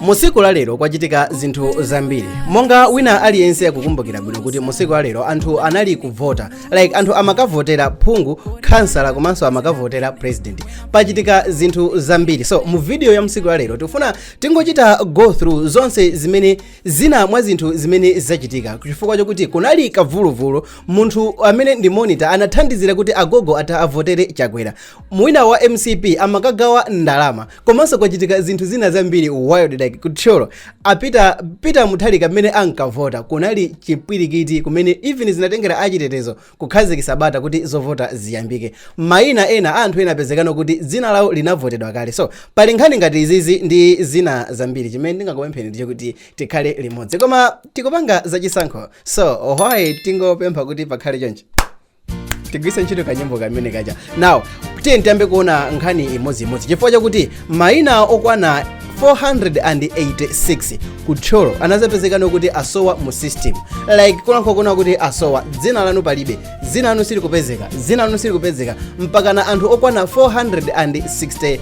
mu tsiku la lero kwachitika zinthu zambiri monga wina aliyense akukumbukira bwino kuti mu tsiku la lero anthu anali kuvota like anthu amakavotera phungu khansala komanso amakavotera president pachitika zinthu zambiri so mu video ya mtsiku la lero tikufuna tingochita go through zonse zimene zina mwa zinthu zimene zachitika chifukwa chokuti kunali kavuluvulu munthu amene ndi monitor anathandizira kuti agogo atha avotere chakwera Mu wina wa mcp amakagawa ndalama komanso kwachitika zinthu zina zambiri while like ku Thyolo a Peter Peter Mutharika mmene ankavota kunali chipwirikiti kumene even zinatengera achitetezo kukhazikitsa bata kuti zovota ziyambike maina ena a anthu ena apezekano kuti dzina lawo linavotedwa kale so pali nkhani ngati izizi ndi zina zambiri chimene ndingakupempheni ndicho kuti tikhale limodzi koma tikupanga zachisankho so why tingopempha kuti pakhale chonchi tigwiritse ntchito kanyimbo kamene kaja now tiyeni tiyambe kuona nkhani imodzi imodzi chifukwa chakuti mayina okwana 486 ku thyolo anazapezekano kuti asowa mu system like kulankhula kunena kuti asowa dzina lanu palibe dzina lanu silikupezeka dzina lanu silikupezeka mpakana anthu okwana 460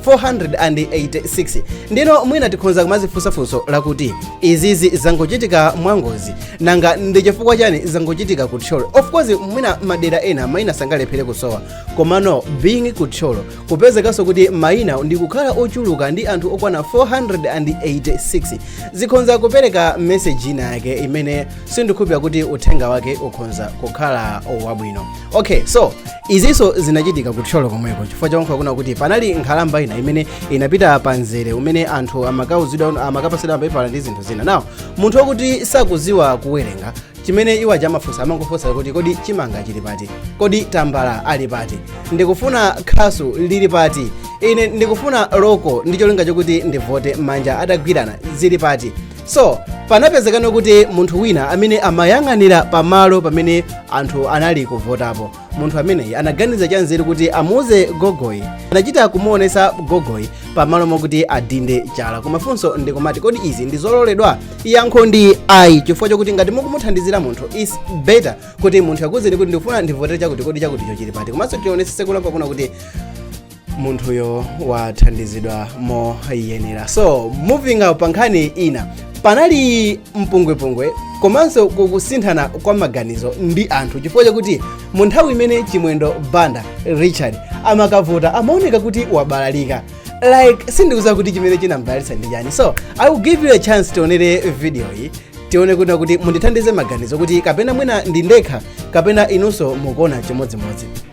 486 ndiyeno mwina tikhonza kumazifunsa funso lakuti izizi zangochitika mwangozi nanga ndi chifukwa chani zangochitika ku thyolo of course mwina madera ena mayina sangalephere kusowa komano being ku thyolo kupezekanso kuti mayina ndi kukhala ochuluka ndi anthu okwana 486 zikhonza kupereka meseji ina yake imene sindikhulupira kuti uthenga wake ukhonza kukhala wabwino okay so izinso zinachitika ku thyolo komweko chifukwa chakuti kunena kuti panali nkhalamba ina imene inapita pa mzere umene anthu amakapasidwa mapepala ndi zinthu zina now munthu wakuti sakuziwa kuwerenga chimene iwo amafunsa amangofunsa kuti kodi chimanga chili pati kodi tambala ali pati ndikufuna khasu lili pati ine ndikufuna loko ndi cholinga chokuti ndivote manja atagwirana zili pati so panapezekano kuti munthu wina amene amayang'anira pamalo pamene anthu anali kuvotapo munthu ameneyi anaganiza chanzeru kuti amuuze gogoyi anachita kumuonesa gogoyi pamalo mokuti adinde chala koma funso ndikumati kodi izi ndizololedwa yankho ndi ayi chifukwa chokuti ngati mukumuthandizira munthu is better kuti munthu akuuzeni kuti ndikufuna ndivotere chakuti kodi chakuticho chili pati komanso tionesese kulankhula kunena kuti munthuyo wathandizidwa moyenera so moving up pankhani ina panali mpungwepungwe komanso kusinthana kwa maganizo ndi anthu chifukwa chakuti mu nthawi imene chimwendo banda richard amakavota amaoneka kuti wabalalika like sindikuziwa kuti chimene chinambalalitsa ndi chani so i will give you a chance tionere video iyi tione kunena kuti mundithandize maganizo kuti kapena mwina ndi ndekha kapena inunso mukuona chimodzimodzi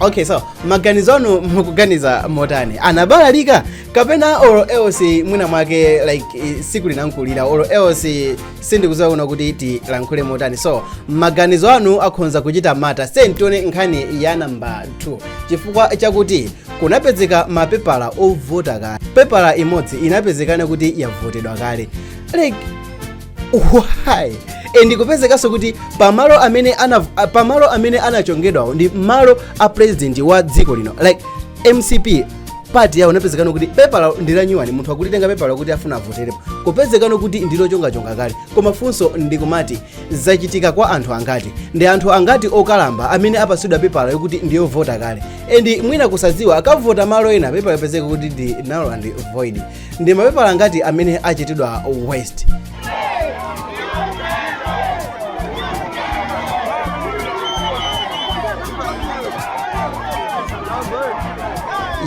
okay so maganizo anu mukuganiza motani anabalalika kapena olo else mwina mwake like eh, tsiku linamkulira olo else sindikuziwa kuna kuti tilankhule motani so maganizo anu akhonza kuchita matter, sent on nkhani ya namba 2 chifukwa chakuti kunapezeka mapepala ovota kale pepala imodzi inapezekana kuti yavotedwa kale like why and kupezekanso kuti pamalo amene ana a- pamalo amene anachongedwawo ndi malo a president wa dziko lino like mcp party yawo napezekano kuti pepala ndilanyuwani munthu akulitenga pepala kuti afuna avoterepo kupezekano kuti ndilochongachonga kale koma funso ndikumati zachitika kwa anthu angati ndi anthu angati okalamba amene apasidwa pepala yokuti ndiyovota kale and mwina kusadziwa akavota malo ena pepala yapezeka kuti ndi null and void ndi mapepala angati amene achitidwa waste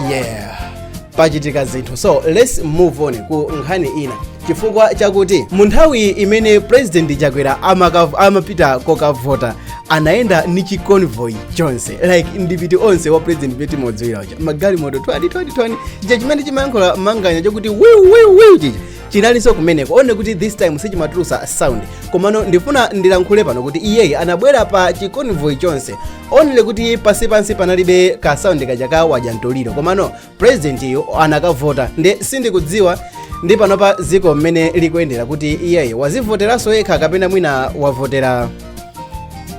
yeah pachitika zinthu so let's move on ku nkhani ina chifukwa chakuti mu nthawi imene president chakwera amaka- amapita kokavota anayenda ni chiconvoy chonse like ndipiti onse wa president eti modziwira magalimoto twadi twadi twadi chija chimene chimayankhula manganya chokuti wiu wiu wiu chija chinalinso kumeneko only kuti this time sichimatulusa sound komano ndifuna ndilankhule pano kuti iyeyi anabwera pa chiconvoy chonse only kuti pansi pansi panalibe ka sound kaja ka wajantoliro komano president-yo anakavota nde sindikudziwa ndi panopa dziko mmene likuyendera kuti iyeyi wazivoteranso yekha kapena mwina wavotera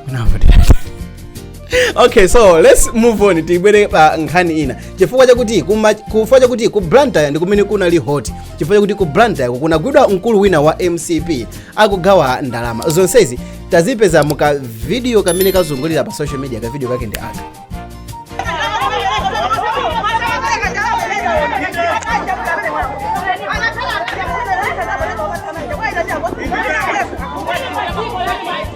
unavotera okay so let's move on tibwere pa nkhani ina chifukwa chakuti kuma- chifukwa chakuti ku blantyre ndi kumene kunali hot chifukwa chakuti ku blantyre kunagwidwa mkulu wina wa mcp akugawa ndalama zonsezi tazipeza mu ka video kamene kazungulira pa social media ka video kake ndi aka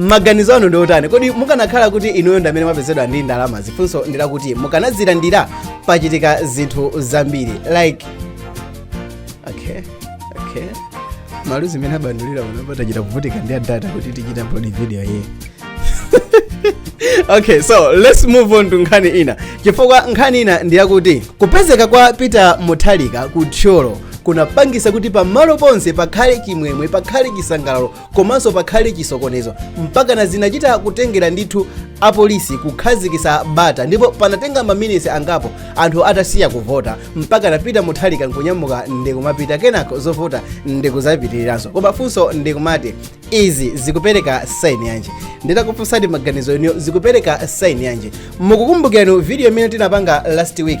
maganizo anu ndiotani kodi mukanakhala kuti inuyo ndamene mwapezedwa ndi ndalama funso ndilakuti mukanazilandira pachitika zinthu zambiri like okay okay maluzi mmene abandulira unapa tinachita kuvutika ndi data kuti tichite upload video iyi okay so let's move on to nkhani ina chifukwa nkhani ina ndiyakuti kupezeka kwa peter mutharika ku thyolo kunapangisa kuti pamalo ponse pakhale chimwemwe pakhale chisangalalo komanso pakhale chisokonezo mpakana zinachita kutengera ndithu apolisi kukhazikisa bata ndipo panatenga maminisi angapo anthu atasiya kuvota mpakana Peter Mutharika nkunyamuka ndikumapita kenako zovota ndikuzapitiriranso koma funso ndikumati izi zikupereka saini yanji nditakufunsani maganizo inuyo zikupereka saini yanji mukukumbukirani video imene tinapanga last week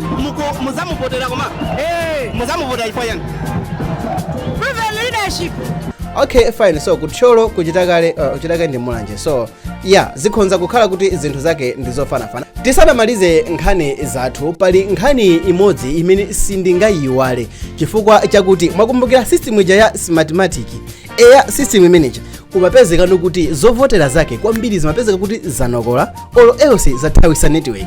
Muko- muzamuvotera koma muzamuvotera chifukwa yani Proven leadership. okay fine so ku Thyolo kuchita kale uh, kuchita kale ndi Mulanje so yeah zikhonza kukhala kuti zinthu zake ndi zofanafana tisanamalize nkhani zathu pali nkhani imodzi imene sindingayiwale chifukwa chakuti mwakumbukira system ija ya smartmatic eya system imeneja kumapezeka kuti zovotera zake kwambiri zimapezeka kuti zanokola olo else zathawisa network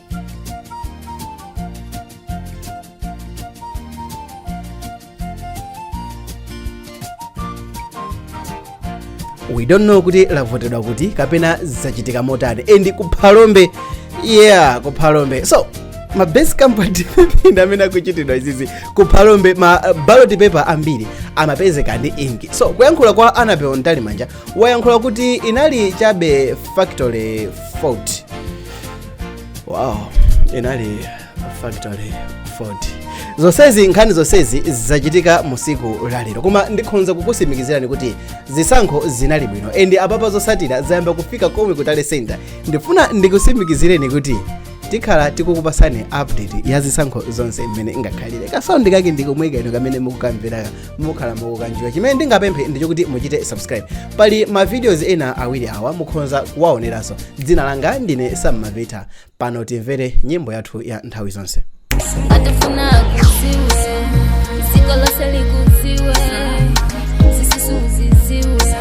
we don't know kuti lavotedwa kuti kapena zachitika motani and ku Phalombe yeah ku Phalombe so ma best company ndi amene akuchitidwa izizi ku Phalombe ma uh, ballot paper ambiri amapezeka ndi inki so kuyankhula kwa Annabel Mtalimanja wayankhula kuti inali chabe factory fault wow inali factory fault zonsezi nkhani zonsezi zachitika musiku lalero koma ndikhonza kukusimikizirani kuti zisankho zinali bwino and apapa zosatira zayamba kufika komwe ku tally center ndifuna ndikusimikizireni kuti tikhala tikukupasani update ya zisankho zonse mmene ingakhalire kasaundi kake ndikomwekaino kamene mukukamveraka mukhala mukukanjoya chimene ndingapemphe ndi chokuti muchite subscribe pali ma videos ena awiri awa mukhonza kuwaoneranso dzina langa ndine Sam Mavita pano timvere nyimbo yathu ya nthawi zonse ngati ufuna akuziwe ziko lose likuziwe zisusu uziziwe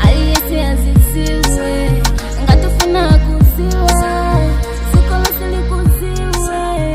aliyese aziziwe ngati ufuna akuziwe ziko lose likuziwe